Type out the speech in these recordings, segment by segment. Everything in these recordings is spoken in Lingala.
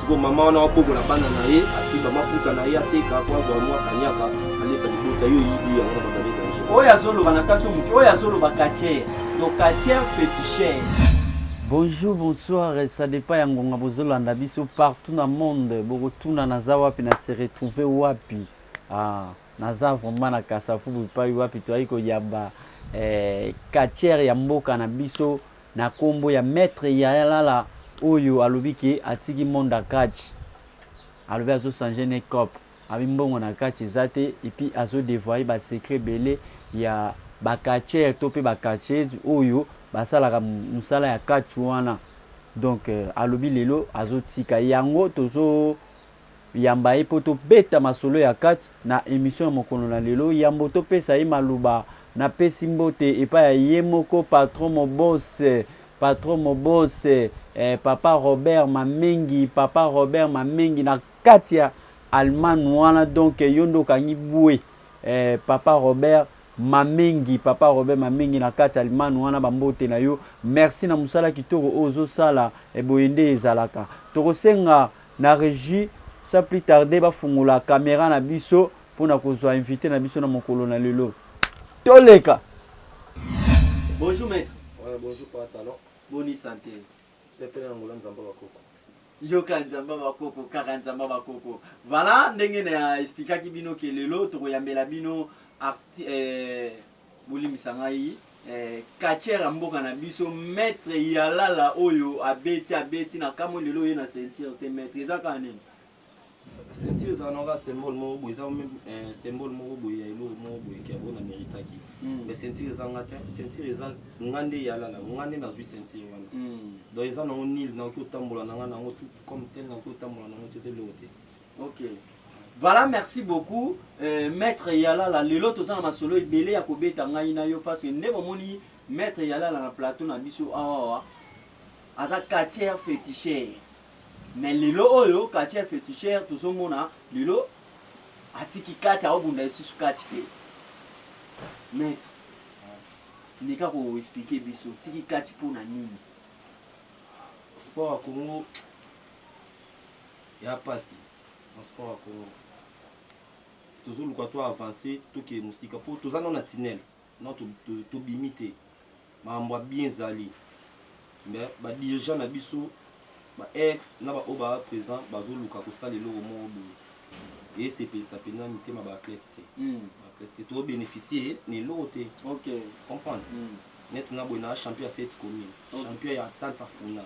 siko mama wana wabokola bana na ye afika maputa na ye ateka po azwa mwa kanyaka alesa libota yo oyibi yango na babale danger oyo azoloba na kati moke oyo azoloba katier donc katier peticher Bonjour, bonsoir, ça dépend ya ngonga bozolanda biso partout na monde bokotuna naza wapi na se retrouver wapi ah, naza vraiment na kasafubu epai wapi toyaki koyamba eh, katiere ya mboka na biso Na kombo ya maitre yaya lala oyo alobi ke atiki monde ya catch alobi azo change ne coop abi mbongo na catch eza te epuis azo devoile ba secret ebele ya ba catcheur to pe ba catcheuse oyo basalaka musala ya catch wana donc alobi lelo azo tika yango tozo Yamba ye po to beta masolo ya kati na emission ya mokolo na lelo yambo to pesa ye maloba na pesi mbote epai ya ye moko patron mobose patron mobose eh papa Robert mamengi papa Robert mamengi na kati ya Allemagne wana donc yo nde okangi bue eh papa Robert mamengi papa Robert mamengi na kati ya Allemagne wana ba mbote na yo merci na mosala kitoko oyo ozo sala eh boye nde ezalaka toko senga Na regie sans plus tarder ba fungola camera na biso pona kozua invite na biso na mokolo na lelo. Toleka! Bonjour maitre. Ouais bonjour papa talon. Boni sante. Pepe na Angola nzamba ba koko. Yoka nzamba ba koko kaka nzamba ba koko. Voilà ndenge na explikaki bino ke lelo toko yambela bino arti eh, Bolimbisa ngai eh, catcheur ya mboka na biso maître Yalala oyo abeti abeti na kamwe lelo ye na ceinture te maître eza kaka nini? ceinture eza nanga symbole moko boye eza eh, symbole moko boye ya eloko moko boye kia oyo na méritaki hmm. mais ceinture eza nga te ceinture eza nga nde yalala nga nde nazwi ceinture wana hmm. donc eza nango nil nakoki otambola nanga nango tout comme tel nakoki otambola nango te eza eloko te Okay. Voilà, merci beaucoup. Euh, maître Yalala, lelo toza na masolo ebele ya kobeta ngai na yo parce que nde bomoni maître Yalala na plateau na biso awa aza quartier féticheur. Mais lelo oyo quartier féticheur tozomona lelo atiki kati aobunda lisusu kati te. Maître, nika ko expliquer biso tiki kati mpo na nini? Sport ya Congo Y'a pasi na sport ya Congo tozoluka to avancer tokende mosika mpo toza nao na tunnel nao tobimi to, to te makambo ya bien ezali mais badirigeant na biso ba ex na baoyo baa présent bazoluka kosala eloko moko boye esepelisa mpenza mitema baathlète te mm. baathlète te tobénéficie na eloko te okay. comprendre mm. neti nga boye naa champion ya 7 commune okay. champion ya tansa funa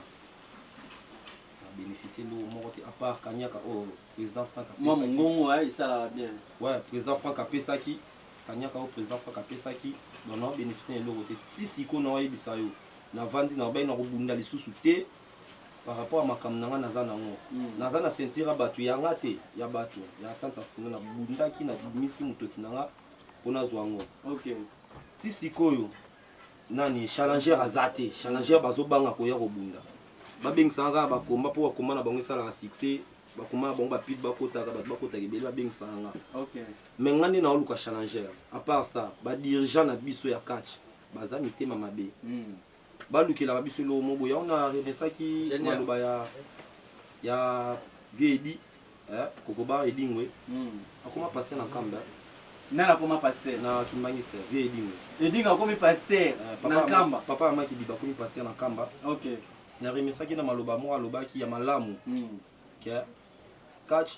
na beneficie eloko moko te apart kaniaka oyo oh, président frank mwa mongongo ya esalaka bien ouais président frank apesaki kaniaka oyo oh, président frank apesaki donc na beneficie na eloko te ti sikoyo na oyebisa yo navandi na obai na kobunda lisusu te par rapport ya makambo na ngai naza nango hmm. naza na ceinture ya bato ya nga te ya bato ya tante afuna nabundaki nabimisi motoki na nga mpo nazwa yango ti sikoyo nani challenger aza te challenger bazobanga koya kobunda babengisaka kaka bakomba mpo bakomba na bango esalaka succès bakomba na bango bapide bakotaka bato bakotaka ebele babengisaka nga mai nga nde naoluka challenger apart ça badirigant na biso ya catch baza mitema mabe hmm. balukelaka biso eloko moboye yango na remesaki maloba ya ya viedi eh, kokoba edingwe hmm. akoma paster na nkamba nani akoma paster na kimbangiste vie edingwe edingwe akomi paster eh, na nkamba papa ya maki biba akomi paster na nkamba okay. naremisaki na maloba moko alobaki ya malamu hmm. ke catch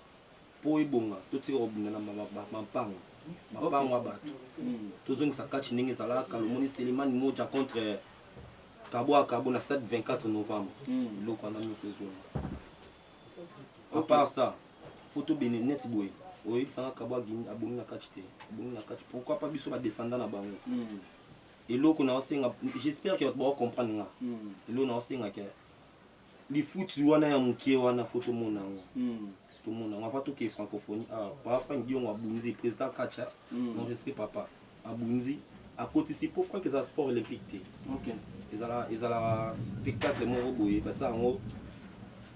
mpo ebonga totika kobunda na mampango mapango ya bato hmm. tozongisa catch ndenge ezalaka lomoni selemani moja contre kabwaka bo na stade 24 novembre biloko wana nyonso ezonga à part ça photo bene net boye oyebisa nga kabo abomi na kati te abomi na kati pourquoi pas biso badescendant na bango hmm. eloko na osenga j'espère que bato bakocomprendre nga hmm. eloko na osenga ke lifuti wana ya moke wana fo tomona yango hmm. tomona yango ava toke francophonie awa ah, papa frank diongo abunzi président kacha mon respect papa abunzi akotisi po frank eza sport olympique te okay. ezala ezala spectacle moko boye batia yango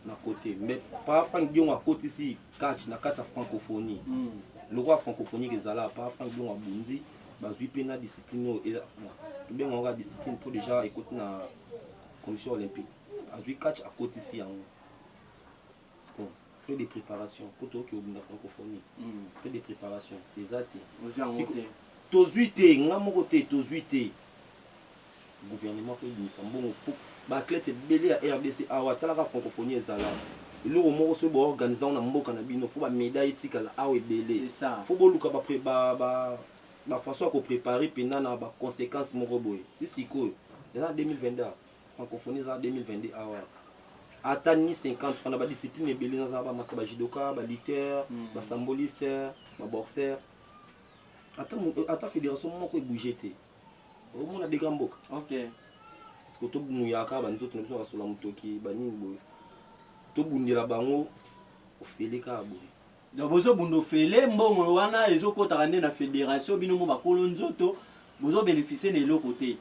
na kote mais pa frank diongo akotisi catch na kati ya francophonie mm. lokola francophonie ezala pa frank diongo abunzi bazwi mpe na discipline oyo tobenga yango discipline mpo deja ekoti na commission olympique azwi catch akotisi yango Bon, frais de préparation kutu oke obunda francophonie mm. frais de préparation eza te tozwi te nga moko te tozwi te gouvernement fo ebimisa mbongo po baathlète ebele ya rdc awa atalaka francophonie ezala eloko moko soki boorganize yango na mboka na bino fo bamedaille etikala awa ebele fo boluka bafaçon ba, ba, ba ya koprépare mpenza na baconséquence moko boye si sikoyo eza na 2022 Francophonie eza 2022 awa. Ata ni 50 francs na ba discipline ebele naza ba master ba judoka, ba lutteur, mm. ba samboliste, ba boxeur. Ata ata fédération moko ebouge te. Omona dega mboka. OK. Parce que to muyaka ba nzoto na biso basola mutoki ba nini boye. To bundela bango ofele ka boye. Donc bozo bunda ofele mbongo wana ezo kotaka nde na federation bino mo bakolo nzoto bozo beneficie na eloko te.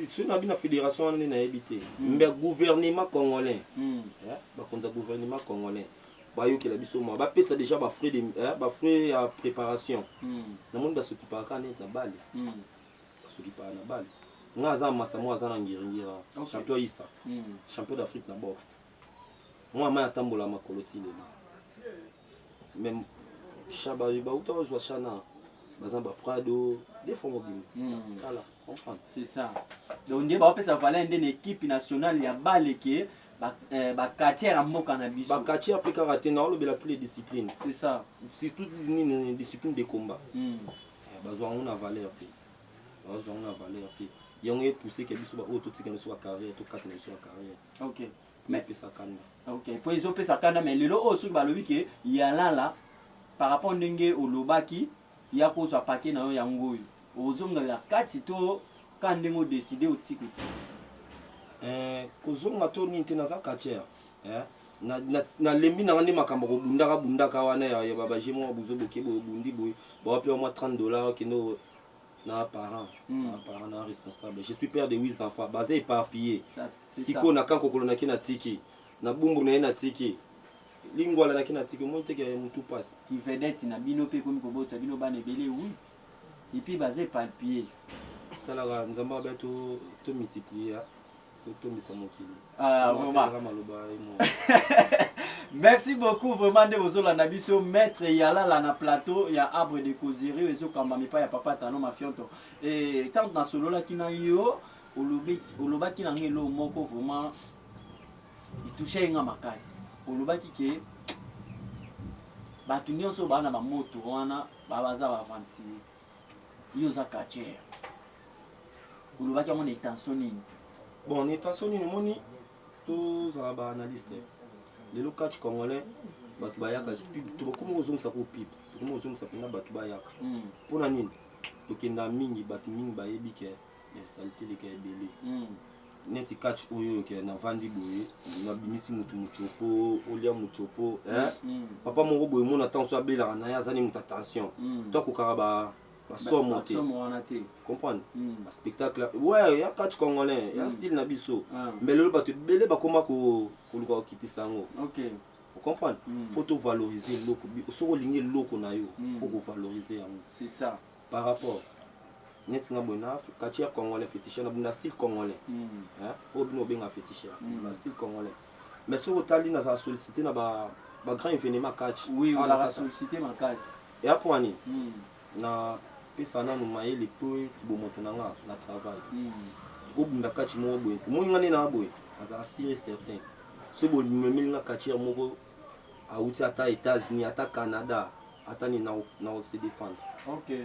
Soki nabi na federation wana nde nayebi te mm. mais gouvernement congolais mm. eh, bakonzi ya gouvernement congolais bayokela biso mwa bapesa déjà bafrais de, eh, bafrais ya préparation mm. namoni basokipaka kaka neti na bale mm. basokipaka na bale nga aza masta moko aza na ngiringira okay. champion isa mm. champion d'afrique na boxe Mwana mai atambola makolo ti lelo. Même shaba bauta ozwa shana baza ba prado des fois mobimba. Hmm. Tala, comprendre. C'est ça. Donc nde baopesa valeur nde na équipe nationale ya bale ke bakati ya mboka na biso bakati ya mpe kaka te na olobela tous les disciplines c'est ça surtout nini discipline de combat hmm. eh, bazwa yango na valeur te bazwa yango na valeur te yango epousse ke biso baoyo totika na biso bacarrière tokata na biso bacarrière Okay. Mais pesa kanda. Okay. Po ezo pesa kanda mais lelo oyo soki balobi ke yalala par rapport ndenge olobaki ya kozwa paquet na yo yango oyo ozongela kati to ka ndenge odeside otiki otiki eh, kozonga to nini te naza katiere eh? nalembi na nga nde makambo kobundaka bundaka wana ya babage mwa buzo boke boye obundi boye bawapi wa mwa 30 dollar okende na parent mm. na parent na responsable je suis père de 8 enfants baza éparpillé sikoyo na kan kokolo naki na tiki na bumbu na ye na tiki lingwala naki na tiki omoni teke ya motu mpasi kivedete na bino mpe ekomi kobotisa bino bana ebele 8 epuis baza éparpillé talaka nzambe abe to multiplier totondisa mokili ah, merci beaucoup vraiment nde bozolanda biso maître yalala na plateau ya arbre de causerie ezokamba mipa ya papa tano mafionto e ntango nasololaki na yo olobaki na nga eloo moko vraiment itouche ye nga makasi olobaki ke bato nyonso baa na bamoto wana babaza baventire Yo oza catcheur. Olobaki yango na intention nini? Bon, na intention nini omoni tozala ba analyste. Lelo catch congolais bato bayaka tokokoma kozongisa ko pib tokoma kozongisa mpenza bato bayaka mpo hmm. na nini tokenda mingi bato mingi bayebi ke ya salikeleka ebele neti catch oyo oyo kende navandi boye nabimisi motu mocopo olia mocopo mm, mm. papa moko boye mona ntango so abelaka na ye aza ne moto attention mm. to akokaka ba basomo te comprendre mm. baspectacle ouais, ya catch congolais ya mm. style na biso ah. mais lelo bato ebele bakoma koluka kokitisa yango okay. ocomprendre mm. fo tovalorize eloko soki olingi eloko na yo mm. fo kovalorize yango par rapport neti nga boye na catcheur congolais féticheur na bunda style congolais hmm. hein oyo bino obenga féticheur hmm. na style congolais mais soki otali nazala sollicité na ba ba grand événement catch oui ah, ozalaka sollicité makasi eya mpo ani hmm. na pesa nanu mayele mpo bomoto na nga na travail obunda catch moko boye omoni nga nde na boye azala sire certain soki bomemeli nga catcheur moko awuti ata etats unis ata canada ata nini nao se defendre okay.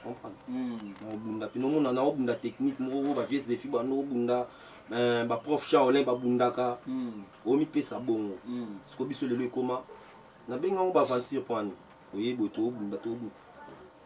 comprendre mm. naobunda mpe nomona naobunda technique moko oyo bavies defi bando obunda eh, baprof shaolin babundaka mm. omipesa bongo mm. siko biso lelo ekoma nabenga yango baaventure mpo ani oyebi boye toobunda toobunda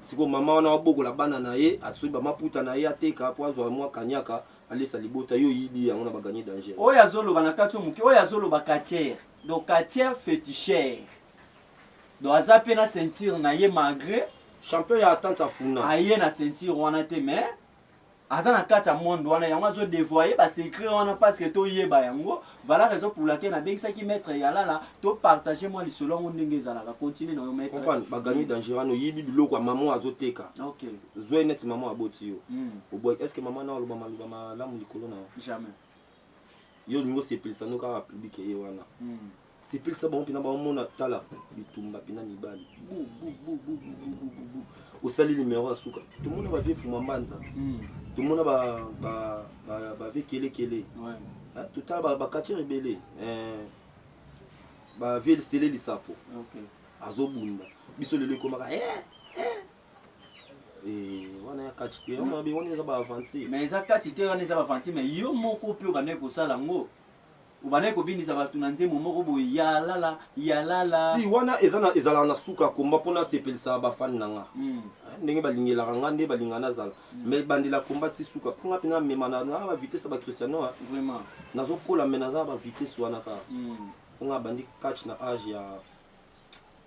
siko mama wana wabokola bana na ye asoki bamaputa na ye ateka mpo azwa mwa kanyaka alesa libota yo oyibi yango na baganye danger oyo azoloba na kati yo moke oyo azoloba katiere donc katiere fetichere donc aza mpe na ceinture na ye malgré champion ya atante afuna aye na ceinture wana te mais aza na kati ya monde wana yango azo devoye ba secret wana parce que toyeba yango voilà raison pour laquelle nabengisaki maître yalala to partage mwa lisolo yango ndenge ezalaka continue na yo maître comprendre ba gagner danger wana oyibi biloko ya maman azo teka ok zwe neti maman aboti yo mm. oboy est ce que maman na oloba maloba malamu likolo na yo jamais yo olingi osepelisa no kaka public eye wana mm. sepelisa bango mpena bamona tala bitumba mpena mibali osali limero ya suka tomona bavie fuma mbanza hmm. tomona bavie kelekele ah, totala bakatir ebele eh, bavie stele lisapo azobunda biso lelo ekomaka eh, Eh, wana ya kati te wana eza baaventure mais eza kati te wana eza baaventure mais yo moko mpe obandaki kosala yango Obandaki kobinisa batu na nzembo moko boye ya lala ya lala. Si wana eza na ezalaka na suka ya combat pona sepelisa ba fan na nga. Mm. Eh, ndenge balingelaka nga nde balinga nazala. Mm. Mais bandela combat ti suka. Nga pena mema na na ba vitesse ba Cristiano. Hein. Vraiment. Nazo kola mais naza ba vitesse wana ka. Mm. Nga bandi catch na âge ya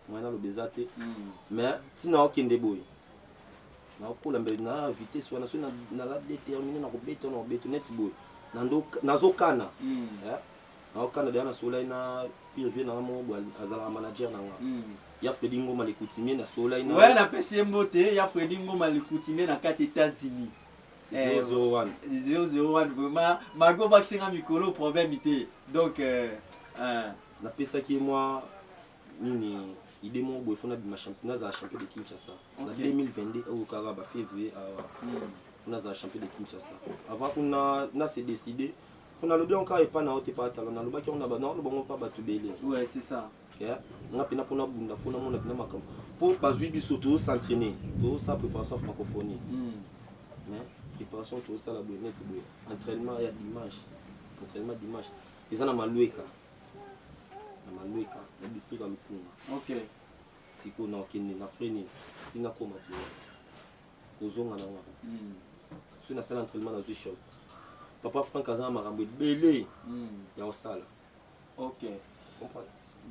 Moi naloba eza te mais ntina okende boye nakokola mbele na vitesse wana soki naza déterminé nakobeta wana kobeta neti boye nazokana hmm. eh? naokana deya nasolai na pire vie nanga moko boye azalaka manager na nga hmm. ya fredi ngoma lekutimie nasolai nawe napesi ye mbote ya fredi ngoma lekutimie na kati états-unis 001 eh, vraiment maki obakisi nga mikolo problème te donc euh, euh. napesaki mwa nini idée moko boye fona bima champion nazala champion de kinshasa na 2022 oyo kaka ba février awa hmm. fona azala champion de kinshasa avant kuna na se décide mpo nalobi yango kaka epai na yo te pa tala nalobaki yango na bana oloba yango mpa bato ebele nga mpena mpo nabunda mpo namona mpena makambo mpo bazwi biso tozosentraine tozosala préparation ya macophonie hmm. mais préparation tozosala boye neti boye entraînement ya dimanche entraînement dimanche eza na malueka na manuika na district ya lukunga okay. sikoyo nakende na frai nini ntina koma boye kozonga na ngai mm. soki nasala entraînement nazwi shop papa frank aza na makambo ebele mm. ya kosala okay.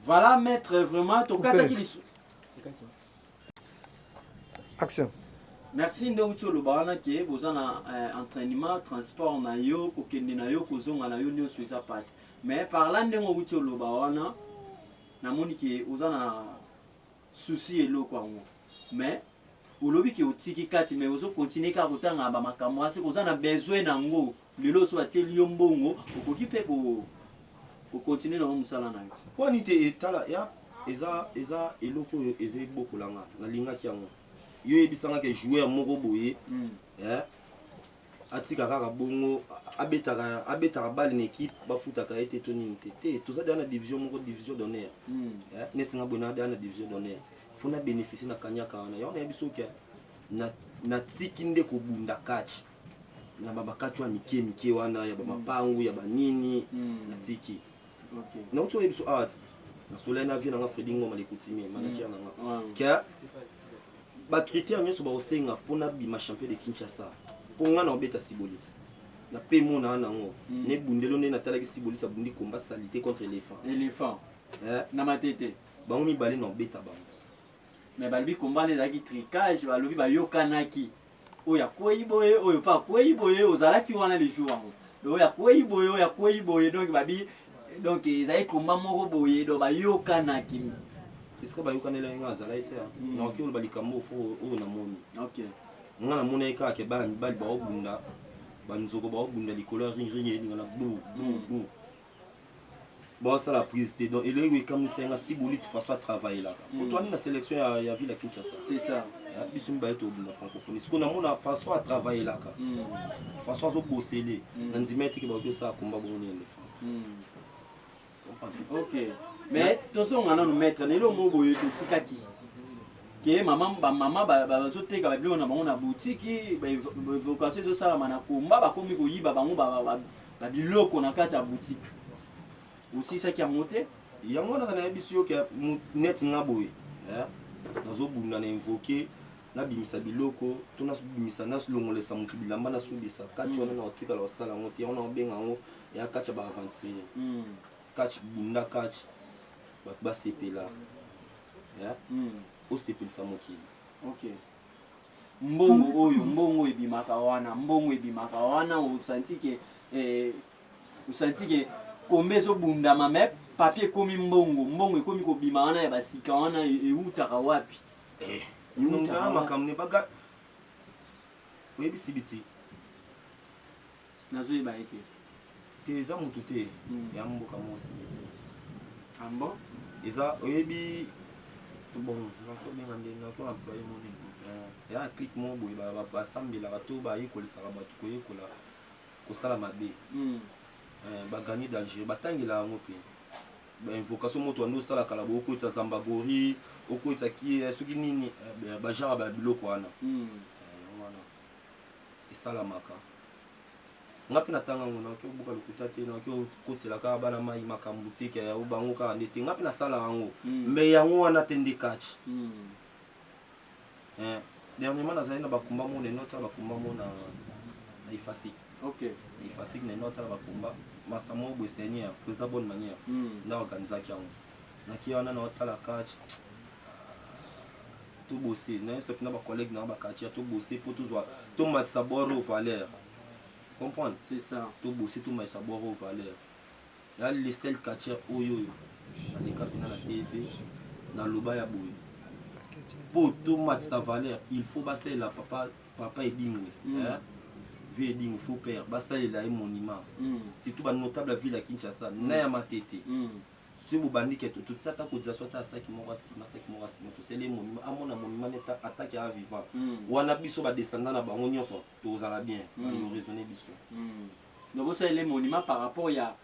voilà maître vraiment tokataki lisu action merci nde outi oloba wana ke boza na eh, entraînement transport na yo kokende na yo kozonga na yo nyonso eza mpasi Mais par là ndenge owuti oloba wana namoni ke oza na souci eloko yango mais olobi ke otiki kati mais ozo continue kaka kotanga ba makambo wana seke oza na besoin na yango lelo oso atieli yo mbongo okoki mpe ko kokontinue nango mosala na yo mpo nini te etala ya eza eza eloko oyo eza ebokola nga nalingaki yango yo oyebisangaka joueur moko boye mm. eh, atika kaka bongo abetaka abetaka bale na équipe bafutaka ye te to nini te te toza deya na division moko division d'honneur hmm. eh, neti nga boye nadeya na division d'honneur fo na bénéficie na kanyaka wana yango nayebi soki natiki nde kobunda kachi na babakachi ya mike mike wana ya bamapangu hmm. ya banini hmm. natiki nauti oyebi so awa nasolai na vie nanga fredi ngoma lekutimie manager nanga ke ba critères nionso ba osenga pona bima champion de Kinshasa po nga na obeta sibolitsa na pe mona wana ngo mm. ne bundelo ne natalaki sibolitsa bundi combat salite contre elephant elephant eh? na matete bango mibale na obeta bango mais balobi combat ezalaki tricage balobi bayokanaki oyo akwei boye oyo mpe akwei boye ozalaki wana le jour yango oyo akwei boye oyo akwei boye donc babi donc ezali komba moko boye donc bayokanaki esika bayokanela ye ngai azalaki te hmm. naoki oloba likambo fo oyo namoni ngai namonaki kaka ke bana mibali baobunda banzoko baobunda likolo ya ringring elinga na bu bu bu basala prise te donc eloko ekamwisa nga si boliti façon atravaillelaka hmm. otwani na sélection ya, ya ville ya kinshasa c'est ça ah, biso mibale tobunda francophonie sikoyo namona façon atravaillelaka hmm. façon azobosele hmm. na ndima eteke baoki osala komba bongo na elephant ok mais tozonga nanu maître na eloko moko boye totikaki ke mama bamama bazoteka babiloko na bango na butiki baevocation ezosalama na komba bakomi koyiba bango na biloko na kati ya boutique osisaki yango te yango naka nayebisi yo ke neti nga boye eh, nazobunda na invoke nabimisa biloko to nabimisa nalongolesa motu bilamba nasubisa kati wana mm. na otikala osala yango te yango na obenga yango ya kati ya baaventurier mm. kati bunda kati bato basepela eh, mm. osepelisa mokili mbongo oyo mbongo ebimaka wana mbongo ebimaka wana osanti ke eh, osanti ke kombe ezobundama me papier ekomi mbongo mbongo ekomi kobima wana ya basika wana e, eutaka wapi eh, makambo ne baga oyebisi biti nazo yeba ye te te eza mutu te hmm. ya mboka moko sindi te ambo ah eza oyebi bon nakobenga nde nako employe moni eh, ya clique moko boye basambelaka to bayekolisaka bato koyekola kosala mabe hmm. eh, bagani dangereux batangela yango mpe bainvocation moto wanda osalaka la bokoita zambagori okoita kie eh, soki nini bajara ba biloko wana hmm. esalamaka nga mpe natanga yango naoki obuka lokuta te naoki okosela kaka bana mai makambo te ke yango bango kaka nde te nga mpe nasala yango mai hmm. yango wana te nde kaci hmm. eh, dernièrement nazali na bakumba mona enota bakumba mona na efasik na efasik na enota bakumba master moko boye seigneur président bonne manière hmm. nda organisaki yango naki wana naotala kaci to bosser na yesa pina ba collègues na ba quartier to bosser pour to zwa to matisa boro valeur comprendre c'est ça to bosser to matisa boro valeur ya le seul quartier oyo oyo na leka pina na TV na loba ya boye pour to matisa valeur il faut ba sela papa papa edingwe mm. hein? vieux edingwe faut père ba sela ye monument mm. surtout ba notable ville ya Kinshasa mm. na ya matete mm. soki bobandi ke totia ata cotisation ata ya saki moko ya sima saki moko ya sima tosali ye monima amona monima neta ata ke a vivant hmm. wana biso badescendant na bango nyonso tozala bien hmm. bando raisonne biso hmm. donc bosalele monima par rapport ya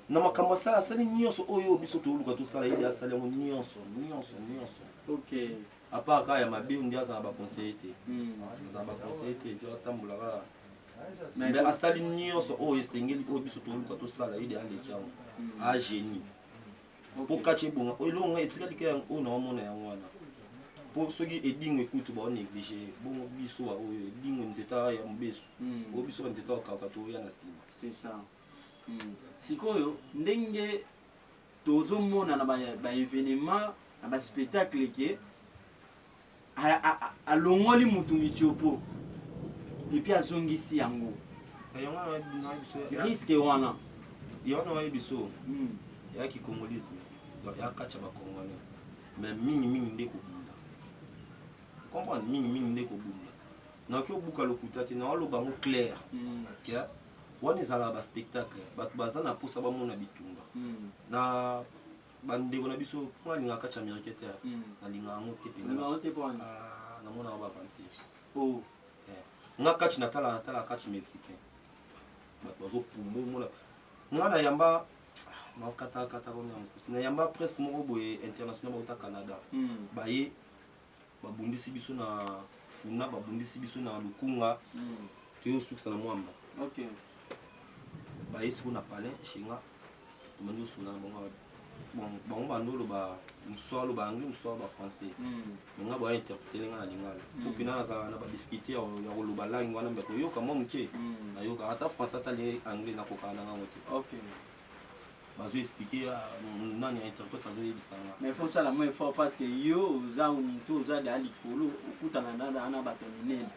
na makambo asala asali nyonso oyo biso toluka tosala ye asali yango nyonso nyonso nyonso ok apart kaka ya mabe nde aza na baconseille te aza na baconseille te atambola kaka mais asali nyonso oyo oh, esengeli oyo oh, biso toluka tosala ye de aleki yango hmm. agenie ah, mpo kaci ebonga oyo oh, eloko ngai etikali ka yango oyo naomona yango wana mpo soki edingo ekutu baoneglige bongo biso baoyo edingo nzeta ya mobesu hmm. oyo biso banzeta bakauka toya na nsima hmm. sikoyo ndenge tozomona na baevenement na baspectacle ke alongoli mutu mitiopo epi azongisi yango riske wana yango na wayebi biso hmm. ya kikongolisme ya katya bakongolais me mingi mingi nde kobunda comprendre mingi mingi nde kobunda naoki obuka lokuta te naoloba yango claire hmm. ke wana ezalaka baspectacle bato baza na mposa bamona bitumba hmm. na bandeko na biso mpo nalingaka kati amerike te hmm. nalingaka yango te mpenza ah, namonaka bavantir oh. eh. nga kati natala natala kati mexicain bato bazopumba omona nga nayamba ah, nakatakata komia mokusi nayamba presque moko boye international bauta canada hmm. baye babundisi biso na funa babundisi biso na lukunga mm. toyosukisa na mwamba okay. baye siko na palin shinga tomandi osuna na bango bango bando oloba mosusu aloba anglais mosusu aloba français mm. me nga boya interpretele nga na lingala mm. po mpena nazala na badifficulté ya koloba langue wana mbe koyoka mwa moke nayoka ata français ata anglais nakokaka na ngango te bazo expliquer ah, nani ya interprète azo yebisa nga mais faut sala mo effort parce que yo oza mutu oza da likolo okutana na na na bato minene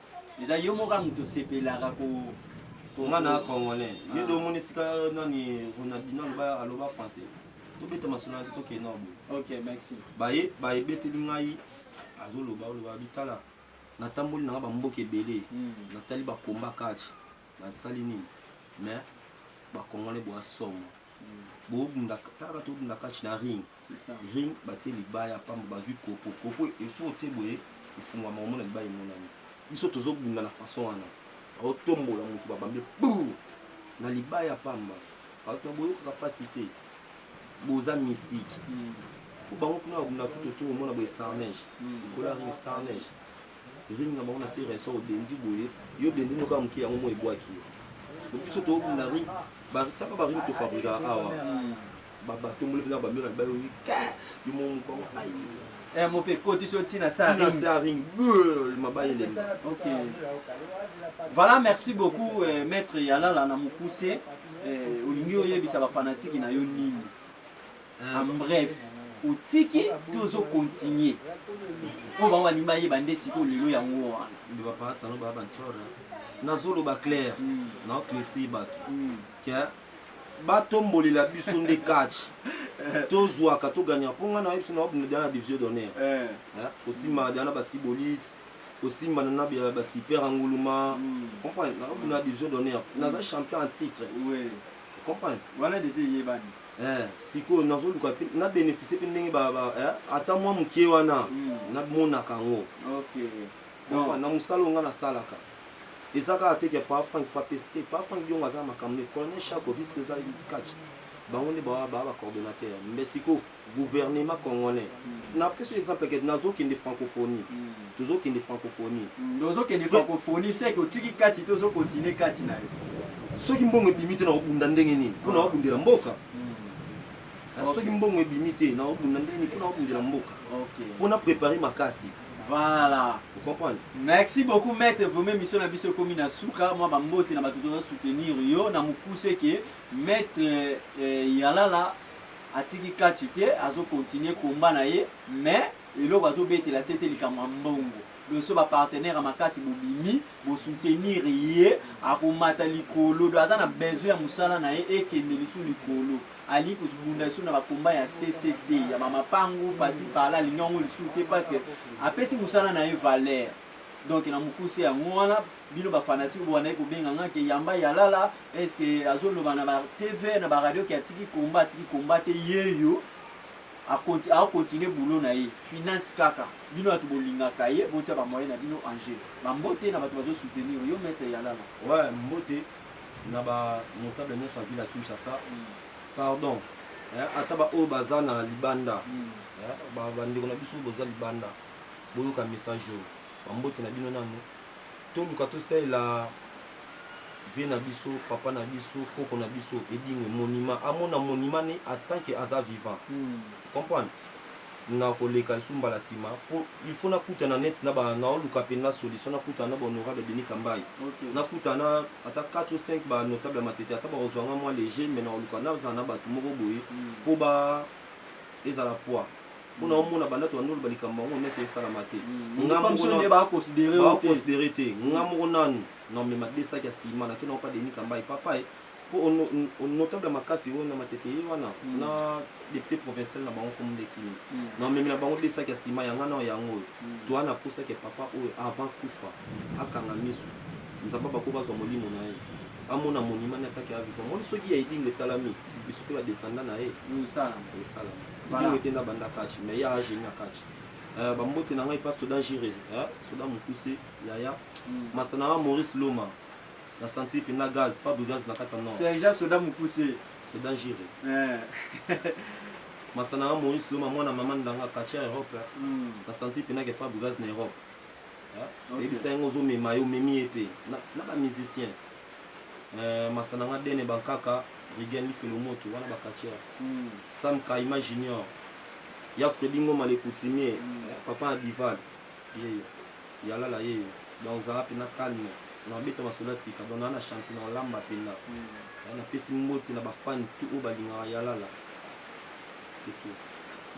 eza yo moka mutu osepelaka ko nga na congolais ah. yo do omoni esika nani ronaldino aloba aloba français tobeta masolo na te tokende na boye ok merci baye baye beteli ngai azoloba oloba bitala natamboli nanga bamboka ebele hmm. natali bakomba kati nasali nini mais bakongole bwa somo mm. bobundaka talaka tobunda kati na ring ring batie libaya pamba bazwi kopo kopo esoki otie boye efungwama omona libaya emonani biso tozobunda na façon wana baotombola motu babambe bur na libaya pamba bato na boyokaka mpasi te boza mystique mm. po bango kuna babunda kutoto omona boye starnage mm. kola ring starnage Ring na bango na se resa odendi boye yo dendi noko ya moke yango mo ebwaki yo siko biso tobunda ring taka baring tofabrika awa batomboli mpena bamio na libali oyi ka yo mo mokongo ai eh, mope ekotisi yo ntina saring mabali elembi voilà merci beaucoup eh, maître yalala na mokuse eh, olingi oyebisa bafanatiki na yo nini en bref otiki to ozo continue oyo bango balingi bayeba nde sikoyo lelo yango wana nde bapatano baya bancore nazoloba claire mm. naoklesi bato mm. ke batombolela biso nde catch tozwaka toganya mpo ngai nayebi sona babunda diana na division d'honneur eh. eh, osimbaka diana basibolite osimbana na basiper anguluma mm. comprendre nababunda na division d'honneur naza champion en titre comprendre wana deja eyebani Eh, sikoyo nazoluka mpe na bénéficie mpe ndenge eh, ata mwa moke wana hmm. namonaka yango na mosala onga nasalaka eza kaka te ke pa frank fapes te pa frank diongo aza makambo nde colonel chako vice président catch bango nde baa bacoordonnateur mbe sikoyo gouvernement congolais hmm. napesi exemple ke nazokende francophonie hmm. tozokende francophonie nde ozokende francophonie seke otiki kati te ozo continue kati na yo soki mbongo ebimi te nakobunda ndenge nini mpo nakobundela ah. mboka hmm. ah, soki mbongo ebimi te nakobunda ndenge nini mpo nakobundela mboka mpo na prépare makasi Voilà. Vous comprenez Merci beaucoup maître Vome mission na biso komi na suka mwa bambote na bato toza soutenir yo na mokuse ke maître eh, eh, Yalala atiki kati te azokontinue komba na ye mais Eloko azo betela CT likambo ya mbongo. Doso ba partenaire ya makasi bobimi bo soutenir ye akomata likolo do aza na besoin ya musala na ye ekende lisu likolo alingi kosbunda lisu na ba combat ya CCT ya ba mapangu pasi pala alingi yango lisu te parce que apesi musala na ye valeur donc na mukuse yango wana bino ba fanatique bowandaki kobenga nga ke yamba yalala est ce que azoloba na ba TV na ba radio ke atiki combat atiki combat te yeyo a continue boulot na ye finance kaka bino batu bolingaka ye botia ba moyen na bino en jeu ba mbote na batu bazo soutenir yo maître yalala ouais mbote na ba notable nyonso ya ville ya Kinshasa mm. pardon eh, ata ba oyo baza na libanda mm. eh, ba bandeko na biso boza libanda boyoka message oyo ba mbote na bino nanu Toluka tosalela vie na biso papa na biso koko na biso edingo monima amona monima ne atant que aza vivant hmm. comprendre na koleka lisu mbala nsima po il faut nakutana net na naoluka mpenza solution nakutana na bahonorable denis kambai okay. nakutana ata 4 ou 5 banotable ya matete ata bakozwa nga mwa léger mais naoluka nazala na bato moko boye mpo hmm. ba ezala poids mpona mm. omona banda toyandolo balikambo yango neti esalama te mm. nga mokoconsidere te nga moko nanu na omema desaki ya sima nakenda opa deni kambai papae mpo notable makasi oyo na matete ye wana mm. na depute provincial na bango komundekini na omemi na bango desaki ya sima yanga nao yango oyo toa napusaki papa oyo avant kufa akanga miso nzambe bakoki bazwa molimo na ye amona monima na ataki ya viva moni soki ya edingo esalami biso mpe badesanda na ye esalama ete nabanda kachi mais ya ageni ya kachi eh, bambote na ngai mpa soda jire eh, soda mokuse yaya hmm. masta na ngai maurice loma na senti mpenza gaz fabre gaz na kati ya nord sergent soda mokuse soda jire eh. masta na ngai maurice loma mwana mama ndanga kachi ya europe hmm. na senti mpenza ke fabre gaz na europe oyebisa yango ozomema ye omemi ye mpe na bamusicien euh, masta na nga dene bankaka rigen lifelo moto wana bakatiere mm. sam kaima junior ya fredi ngoma le coutumier mm. Eh, papa ya dival yeyo yalala yeyo donc ozala mpena calme na obeta masolo sika donc naa na chanti na olamba mpena mm. eh, napesi mbote na bafani tu oyo balingaka yalala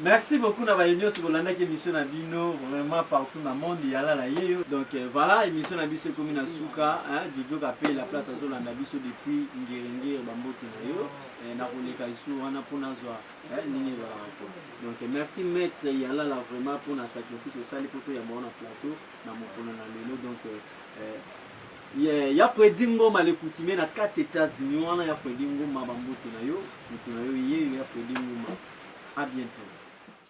Merci beaucoup na baye nyonso bolandaki émission na bino vraiment partout na monde ya lala yeyo donc euh, voilà émission na biso ekomi na suka jojo kape la place azolanda biso depuis ngerengere bamboki na yo euh, nakoleka lisusu wana mpo nazwa euh, ndenge ezalaka po donc merci maître ya lala vraiment mpo na sacrifice osali mpo toyamba wana plateau na mokolo na lelo donc Yeah, ya Freddy Ngoma le coutumier na kati États-Unis wana ya Freddy Ngoma bambote na yo, mutu na yo yeyo ya Freddy Ngoma. À bientôt.